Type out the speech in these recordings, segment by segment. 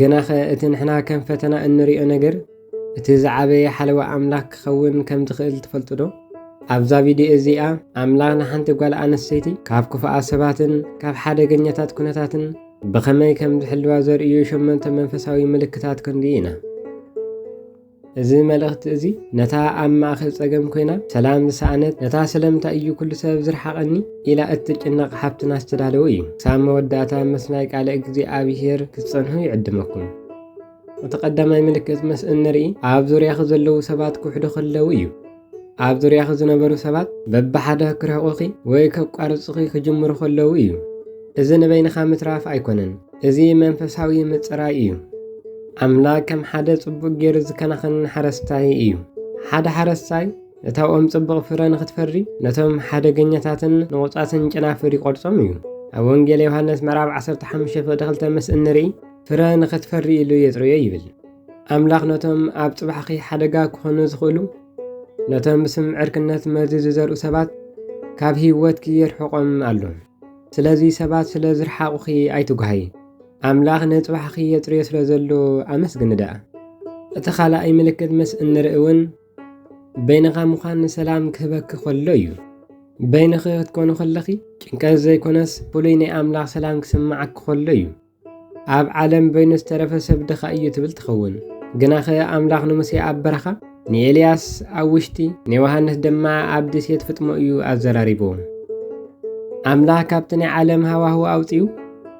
ግናኸ እቲ ንሕና ከም ፈተና እንርእዮ ነገር እቲ ዝዓበየ ሓለዋ ኣምላኽ ክኸውን ከም ዝኽእል ትፈልጡዶ? ኣብዛ ቪድዮ እዚኣ ኣምላኽ ንሓንቲ ጓል ኣንስተይቲ ካብ ክፉኣት ሰባትን ካብ ሓደገኛታት ኵነታትን ብኸመይ ከም ዝሕልዋ ዘርእዩ ሸሞንተ መንፈሳዊ ምልክታት ክንርኢ ኢና። እዚ መልእኽቲ እዚ ነታ ኣብ ማእከል ጸገም ኰይና ሰላም ዝሰኣነት፣ ነታ ስለምንታይ እዩ ኵሉ ሰብ ዝርሓቐኒ? ኢላ እትጭነቕ ሓብትና ዝተዳለወ እዩ። ክሳብ መወዳእታ ምስናይ ቃለ እግዚኣብሄር ክትጸንሑ ይዕድመኩም። እቲ ቀዳማይ ምልክት ምስ እንርኢ ኣብ ዙርያኺ ዘለዉ ሰባት ክውሕዱ ከለዉ እዩ። ኣብ ዙርያኺ ዝነበሩ ሰባት በብሓደ ክርሕቑኺ ወይ ከቋርጹኺ ክጅምሩ ከለዉ እዩ። እዚ ንበይንኻ ምትራፍ ኣይኮነን፣ እዚ መንፈሳዊ ምጽራይ እዩ። ኣምላኽ ከም ሓደ ጽቡቕ ጌሩ ዝከናኸን ሓረስታይ እዩ። ሓደ ሓረስታይ እታ ኦም ጽቡቕ ፍረ ንኽትፈሪ ነቶም ሓደገኛታትን ንቑጻትን ጨናፍር ይቖርጾም እዩ። ኣብ ወንጌል ዮሃንስ ምዕራብ 15 ፍቕዲ 2 ምስ እንርኢ ፍረ ንኽትፈሪ ኢሉ የጽርዮ ይብል። ኣምላኽ ነቶም ኣብ ጽባሕኺ ሓደጋ ክኾኑ ዝኽእሉ ነቶም ብስም ዕርክነት መርዚ ዝዘርኡ ሰባት ካብ ህይወትኪ የርሕቖም ኣሎ። ስለዚ ሰባት ስለ ዝርሓቑኺ ኣይትጓሃይ፣ ኣምላኽ ንጽባሕኺ የጽርዮ ስለ ዘሎ ኣመስግኒ ደኣ። እቲ ኻልኣይ ምልክት ምስ እንርኢ እውን በይንኻ ምዃን ንሰላም ክህበኪ ከሎ እዩ። በይንኺ ክትኮኑ ከለኺ ጭንቀት ዘይኮነስ ፍሉይ ናይ ኣምላኽ ሰላም ክስምዓኪ ከሎ እዩ። ኣብ ዓለም በይኑ ዝተረፈ ሰብ ድኻ እዩ ትብል ትኸውን። ግናኸ ኣምላኽ ንሙሴ ኣብ በረኻ፣ ንኤልያስ ኣብ ውሽጢ፣ ንዮሃንስ ድማ ኣብ ደሴት ፍጥሞ እዩ ኣዘራሪብዎም። ኣምላኽ ካብቲ ናይ ዓለም ሃዋህው ኣውጺኡ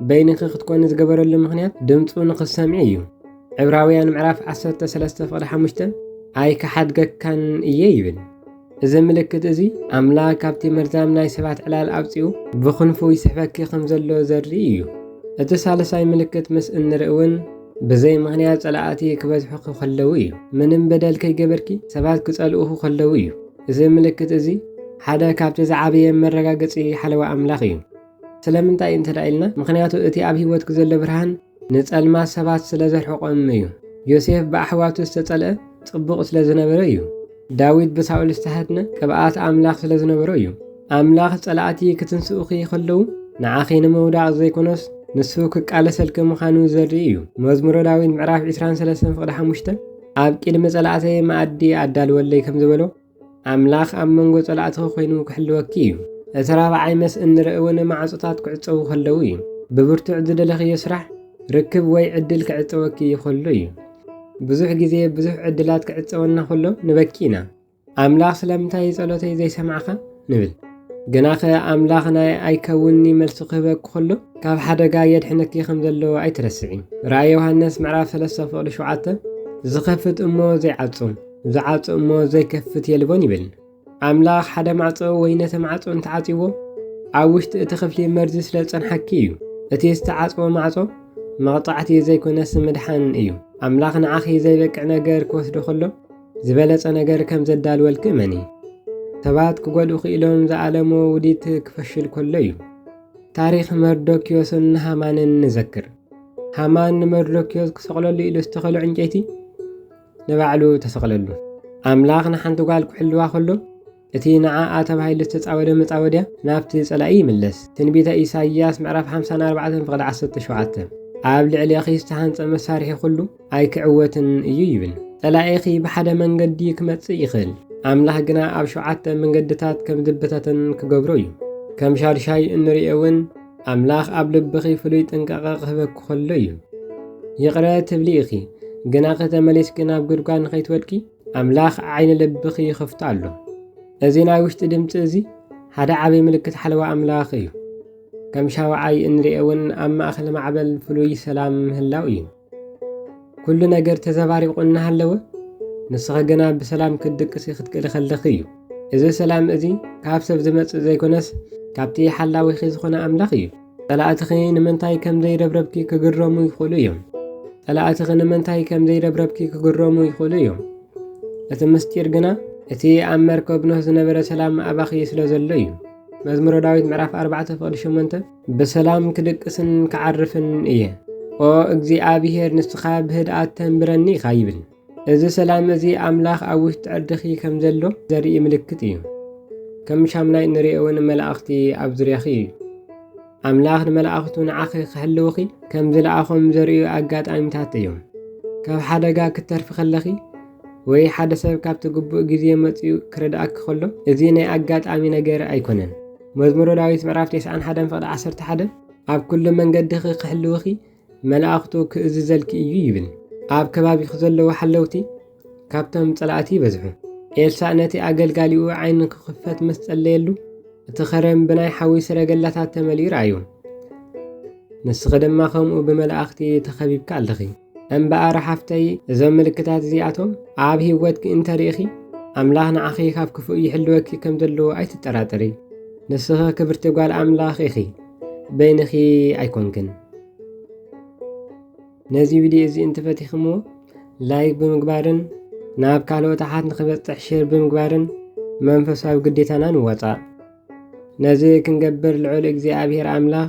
በይንኺ ክትኮኒ ዝገበረሉ ምኽንያት ድምፁ ንኽትሰምዒ እዩ። ዕብራውያን ምዕራፍ 13 ፍቕዲ 5 ኣይክሓድገካን እየ ይብል። እዚ ምልክት እዚ ኣምላኽ ካብቲ መርዛም ናይ ሰባት ዕላል ኣውጺኡ ብኽንፉ ይስሕበኪ ከም ዘሎ ዘርኢ እዩ። እቲ ሳልሳይ ምልክት ምስ እንርኢ እውን ብዘይ ምኽንያት ጸላእቲ ክበዝሑኺ ከለዉ እዩ። ምንም በደል ከይገበርኪ ሰባት ክጸልኡኺ ከለዉ እዩ። እዚ ምልክት እዚ ሓደ ካብቲ ዝዓበየ መረጋገጺ ሓለዋ ኣምላኽ እዩ። ስለምንታይ እንተ ኢልና ምኽንያቱ እቲ ኣብ ህይወትኪ ዘሎ ብርሃን ንጸልማት ሰባት ስለ ዘርሕቖም እዩ። ዮሴፍ ብኣሕዋቱ ዝተጸልአ ጽቡቕ ስለ ዝነበረ እዩ። ዳዊት ብሳኦል ዝተሃድነ ቅብኣት ኣምላኽ ስለ ዝነበሮ እዩ። ኣምላኽ ጸላእቲ ክትንስኡኺ ኸለዉ ንዓኺ ንምውዳቕ ዘይኮነስ ንሱ ክቃለሰልኪ ምዃኑ ዘርኢ እዩ። መዝሙረ ዳዊት ምዕራፍ 23 ፍቕዲ ሓሙሽተ ኣብ ቅድሚ ጸላእተይ መኣዲ ኣዳልወለይ ከም ዝበሎ ኣምላኽ ኣብ መንጎ ጸላእትኺ ኮይኑ ክሕልወኪ እዩ። እቲ ራብዓይ መስ እንርኢ እውን ማዕጾታት ክዕጸዉ ከለዉ እዩ። ብብርቱዕ ዝደለኽዮ ስራሕ፣ ርክብ ወይ ዕድል ክዕጸወኪ ይኸሎ እዩ። ብዙሕ ግዜ ብዙሕ ዕድላት ክዕጸወና ከሎ ንበኪ ኢና። ኣምላኽ ስለምንታይ ጸሎተይ ዘይሰምዓካ? ንብል። ግናኸ ኣምላኽ ናይ ኣይከውንኒ መልሲ ክህበኪ ከሎ ካብ ሓደጋ የድሕነኪ ከም ዘሎ ኣይትረስዒ። ራእይ ዮሃንስ ምዕራፍ 3 ፍቕዲ 7 ዝኸፍት እሞ ዘይዓጹ፣ ዝዓጹ እሞ ዘይከፍት የልቦን ይብል ኣምላኽ ሓደ ማዕጾ ወይ ነቲ ማዕጾ እንተዓጽዎ ኣብ ውሽጢ እቲ ክፍሊ መርዚ ስለ ዝጸንሓኪ እዩ እቲ ዝተዓጽዎ ማዕጾ መቕጻዕቲ ዘይኮነስ ምድሓን እዩ ኣምላኽ ንዓኺ ዘይበቅዕ ነገር ክወስዶ ከሎ ዝበለጸ ነገር ከም ዘዳልወልኪ እመኒ ሰባት ክጎድኡ ክኢሎም ዝኣለሞ ውዲት ክፈሽል ከሎ እዩ ታሪኽ መርዶክዮስን ሃማንን ንዘክር ሃማን ንመርዶክዮስ ክሰቕለሉ ኢሉ ዝተኸሎ ዕንጨይቲ ንባዕሉ ተሰቕለሉ። ኣምላኽ ንሓንቲ ጓል ክሕልዋ ከሎ፣ እቲ ንዓኣ ተባሂሉ ዝተጻወደ መጻወድያ ናብቲ ጸላኢ ይምለስ። ትንቢተ ኢሳይያስ ምዕራፍ ሓምሳን ኣርባዕተን ፍቕዲ ዓሰርተ ሸውዓተ፣ ኣብ ልዕሌኺ ዝተሃንጸ መሳርሒ ኩሉ ኣይክዕወትን እዩ ይብል። ጸላኢኺ ብሓደ መንገዲ ክመጽእ ይኽእል፣ ኣምላኽ ግና ኣብ ሸውዓተ መንገድታት ከም ዝብተተን ክገብሮ እዩ። ከም ሻዱሻይ እንርእዮ እውን፣ ኣምላኽ ኣብ ልብኺ ፍሉይ ጥንቃቐ ክህበኪ ከሎ እዩ። ይቕረ ትብሊ ኢኺ፣ ግናኸ ተመሊስኪ ናብ ጉድጓድ ንኸይትወድቂ ኣምላኽ ዓይኒ ልብኺ ይኸፍቶ ኣሎ። እዚ ናይ ውሽጢ ድምፂ እዚ ሓደ ዓብዪ ምልክት ሓለዋ ኣምላኽ እዩ። ከም ሻውዓይ እንሪኦ እውን ኣብ ማእኸል ማዕበል ፍሉይ ሰላም ምህላው እዩ። ኩሉ ነገር ተዘባሪቑ እናሃለወ ንስኺ ግና ብሰላም ክትድቅሲ ክትክእሊ ከለኺ እዩ። እዚ ሰላም እዚ ካብ ሰብ ዝመጽእ ዘይኮነስ ካብቲ ሓላዊኺ ዝኾነ ኣምላኽ እዩ። ጸላእትኺ ንምንታይ ከም ዘይረብረብኪ ክግረሙ ይኽእሉ እዮም። ጸላእትኺ ንምንታይ ከም ዘይረብረብኪ ክግረሙ ይኽእሉ እዮም። እቲ ምስጢር ግና እቲ ኣብ መርከብ ኖህ ዝነበረ ሰላም ኣባኺ ስለ ዘሎ እዩ። መዝሙረ ዳዊት ምዕራፍ 4 ፍቕዲ 8 ብሰላም ክድቅስን ክዓርፍን እየ። ኦ እግዚኣብሄር ንስኻ ብህድኣት ተንብረኒ ኢኻ ይብል። እዚ ሰላም እዚ ኣምላኽ ኣብ ውሽጢ ዕርድኺ ከም ዘሎ ዘርኢ ምልክት እዩ። ከም ሻምናይ እንሪኦ እውን መላእኽቲ ኣብ ዙርያኺ እዩ። ኣምላኽ ንመላእኽቱ ንዓኺ ክሕልውኺ ከም ዝለኣኾም ዘርእዩ ኣጋጣሚታት እዮም። ካብ ሓደጋ ክትተርፊ ከለኺ ወይ ሓደ ሰብ ካብቲ ግቡእ ግዜ መፂኡ ክረድኣኪ ከሎ እዚ ናይ ኣጋጣሚ ነገር ኣይኮነን። መዝሙረ ዳዊት ምዕራፍ ቴስዓን ሓደን ፍቕዲ ዓሰርተ ሓደ ኣብ ኩሉ መንገድኺ ክሕልውኺ መላእኽቱ ክእዝዘልኪ እዩ ይብል። ኣብ ከባቢኺ ዘለዉ ሓለውቲ ካብቶም ጸላእቲ ይበዝሑ። ኤልሳእ ነቲ ኣገልጋሊኡ ዓይኑ ክኽፈት ምስ ጸለየሉ እቲ ኸረን ብናይ ሓዊ ሰረገላታት ተመሊኡ ረኣዩ። ንስኺ ድማ ከምኡ ብመላእኽቲ ተኸቢብካ ኣለኺ። እምበኣር ሓፍተይ እዞም ምልክታት እዚኣቶም ኣብ ህይወትኪ እንተርኢኺ ኣምላኽ ንዓኺ ካብ ክፉእ ይሕልወኪ ከም ዘለዎ ኣይትጠራጠሪ። ንስኺ ክብርቲ ጓል ኣምላኽ ኢኺ፣ በይንኺ ኣይኮንክን። ነዚ ቪድዮ እዚ እንትፈቲኽምዎ ላይክ ብምግባርን ናብ ካልኦት ኣሓት ንክበፅሕ ሼር ብምግባርን መንፈሳዊ ግዴታና ንወፃእ። ነዚ ክንገብር ልዑል እግዚኣብሔር ኣምላኽ